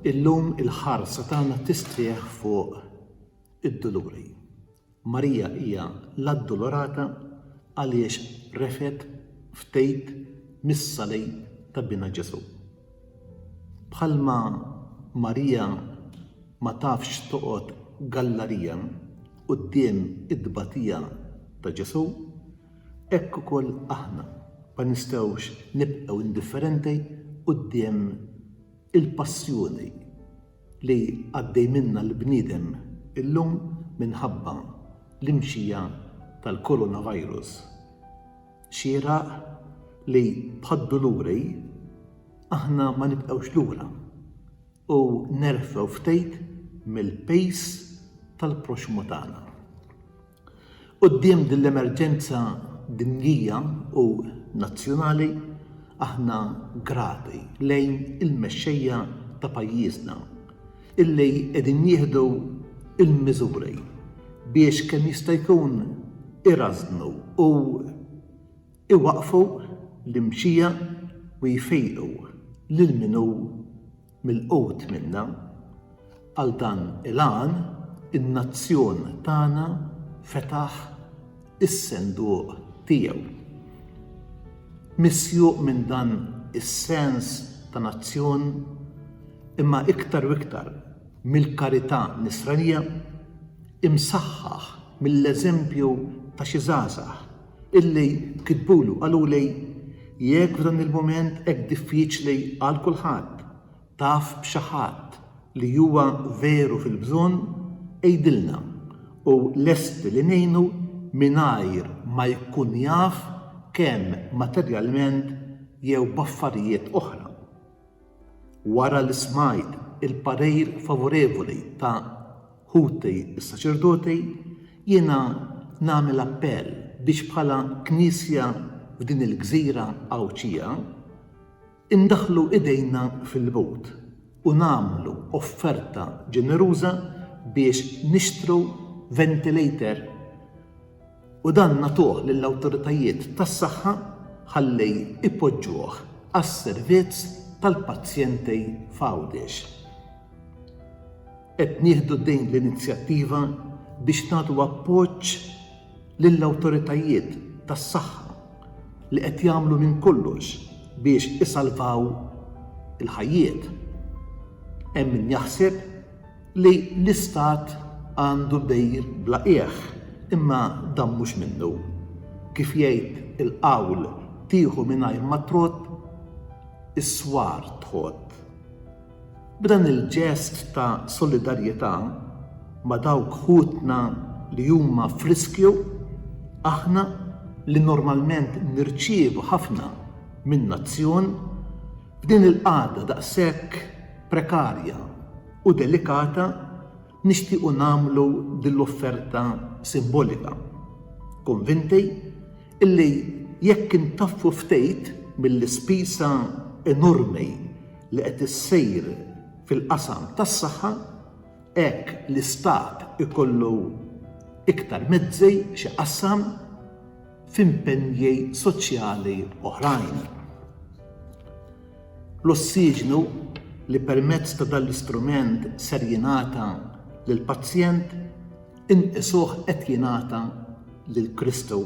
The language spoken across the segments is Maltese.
Illum il-ħarsa tagħna tistrieħ fuq id-duluri. Marija hija l-addulorata għaliex refet ftejt mis-salib ta' binha Ġesù. Bħalma Marija ma tafx toqgħod gallarija quddiem it-tbatija ta' Ġesù, Hekk ukoll aħna ma nistgħux nibqgħu indifferenti quddiem il-passjoni li għaddej minnha l-bniedem illum minħabba l-imxija tal-coronavirus. Xieraq li bħad-duluri aħna ma nibqgħux lura u nerfgħu ftit mill-pejs tal-proxxmu tagħna. Quddiem din l-emerġenza dinjija u nazzjonali, aħna grati lejn il-mexxejja ta' pajjiżna illi qegħdin jieħdu l-miżuri biex kemm jista' jkun irażżnu u jwaqqfu l-imxija u jfejqu lil min hu Milqut minna, għal dan il-għan in-nazzjon tagħna fetaħ is-senduq tiegħu. Misjuq minn dan is-sens ta' nazzjon, imma iktar u iktar mill-karità Nisranija, imsaħħaħ mill-eżempju ta' xi żgħażagħ illi kitbulu qaluli jekk f'dan il-mument hekk diffiċli għal kulħadd taf b'xi ħadd li huwa veru fil-bżonn għidilna u lesti li ngħinu mingħajr ma jkun jaf kemm materjalment jew b'affarijiet oħra. Wara li smajt il-parir favorevoli ta' ħuti s-saċerdoti, jiena nagħmel appell biex bħala Knisja f'din il-gżira Għawdxija indaħħlu idejna fil-but u nagħmlu offerta ġeneruża biex nixtru ventilator u dan nagħtuh lill-awtoritajiet tas-saħħa ħalli jpoġġuh għas-servizz tal-pazjenti f'Għawdex. Qed nieħdu din l-inizjattiva biex nagħtu appoġġ lill-awtoritajiet tas-saħħa li qed jagħmlu minn kollox biex isalvaw il-ħajjiet. Hemm min jaħseb li l-Istat għandu dejjin bla qiegħ, imma dan mhux minnu. Kif jgħid il-qawl tieħu mingħajr ma trodd, is-swar tħodd. B'dan il-ġest ta' solidarjetà ma' dawk ħutna li huma f'riskju, aħna li normalment nirċievu ħafna minn nazzjon, F'din il-qagħda daqshekk prekarja u delikata nixtiequ nagħmlu din l-offerta simbolika, konvinti illi jekk intaffu ftit mill-ispisa enormi li qed issir fil-qasam tas-saħħa, hekk l-Istat ikollu iktar mezzi x'iqassam, f'impenji soċjali oħrajn. L-ossiġnu li permezz ta' dan l-istrument ser jingħata lill-pazjent inqisuh qed jingħata lil Kristu.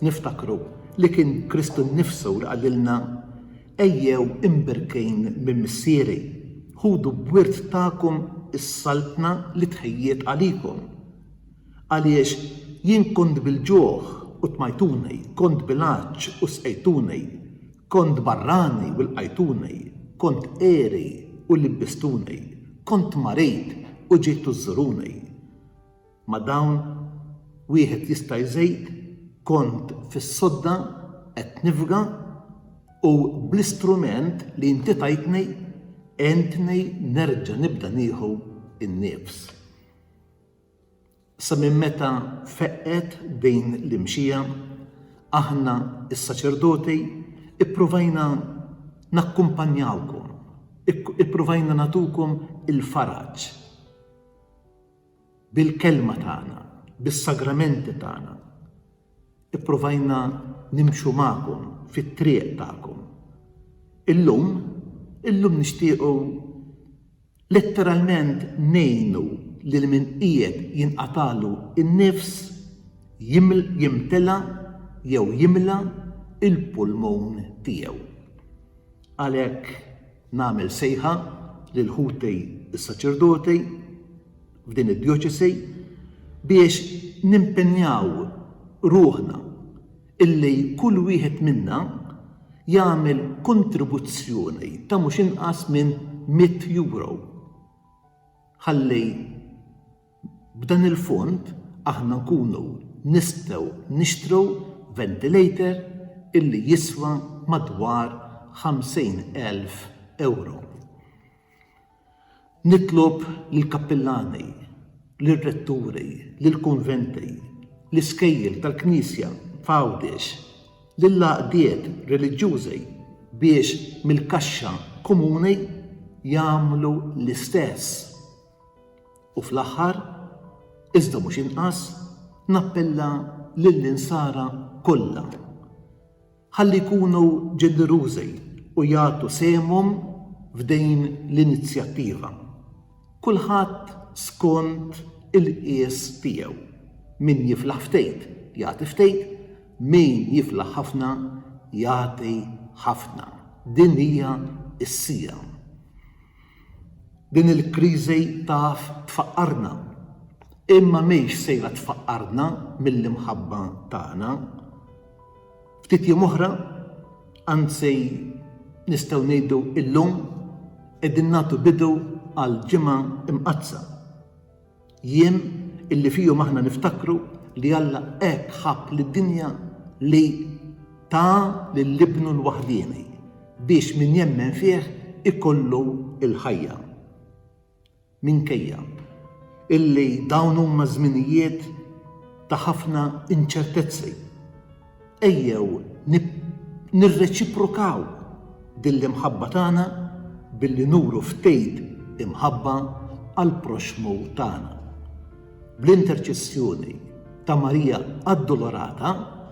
Niftakru li kien Kristu nnifsu li qalilna ejjew imbirkejn minn Missieri, ħudu b'wirt tagħkom is-saltna li tħejjiet għalikom. Għaliex jien kont bil-ġuħ u tmajtuni, kont bil-għatx u sqejtuni, kont barrani u lqajtuni, kont għeri u libbistuni, kont marid u ġejtu żżuruni. Ma' dawn wieħed jista' jżid, kont fis-sodda qed nifga u bl-istrument li inti tajtni għentni nerġa' nibda nieħu n-nifs. Sa minn meta feqqet din l-imxija, aħna s-saċerdoti ippruvajna nakkumpanjawkom, ippruvajna nagħtukom il-faraġ bil-kelma tagħna, bis-sagramenti tagħna, ippruvajna nimxu magħkom fit-triq tagħkom. Illum, illum nixtiequ Letteralment ngħinu lil min qiegħed jinqatagħlu n-nifs jimtela jew jimla l-pulmun tiegħu. Għalhekk nagħmel sejħa lil ħuti s-saċerdoti f'din id-djoċesi biex nimpenjaw ruħna illi kull wieħed minna jagħmel kontribuzzjoni ta' mhux inqas minn mitt euro. Ħalli b'dan il-fond aħna nkunu nistgħu nixtru ventilator illi jiswa madwar 50,000 euro. Nitlob lill-kappillani, lir-retturi, lill-kunventi, l-iskejjel tal-Knisja f'Għawdex, lill-għaqdiet reliġjużi biex mill-kaxxa komuni jagħmlu l-istess. U fl-aħħar, iżda mhux inqas, nappella lill-Insara kollha. Ħalli jkunu ġenerużi u jagħtu sehemhom f'din l-inizjattiva, kulħadd skont il-qies tiegħu. Min jiflaħ ftit, jagħti ftit, min jiflaħ ħafna, jagħti ħafna. Din hija s-siegħa. Din il-kriżi taf tfaqqarna, imma mhix sejra tfaqqarna mill-imħabba tagħna. Ftit jiem oħra, anzi nistgħu ngħidu illum, qegħdin nagħtu bidu għal ġimgħa imqaddsa. Jiem illi fihom aħna niftakru li Alla hekk ħabb lid-dinja li ta lil Ibnu l-waħdieni biex min jemmen fih ikollu l-ħajja. Minkejja illi dawn huma żminijiet ta' ħafna inċertezzi, ejjew nirreċiprokaw din l-imħabba tagħna billi nuru ftit imħabba għall-proxxmu tagħna. Bl-interċessjoni ta' Marija Addolorata,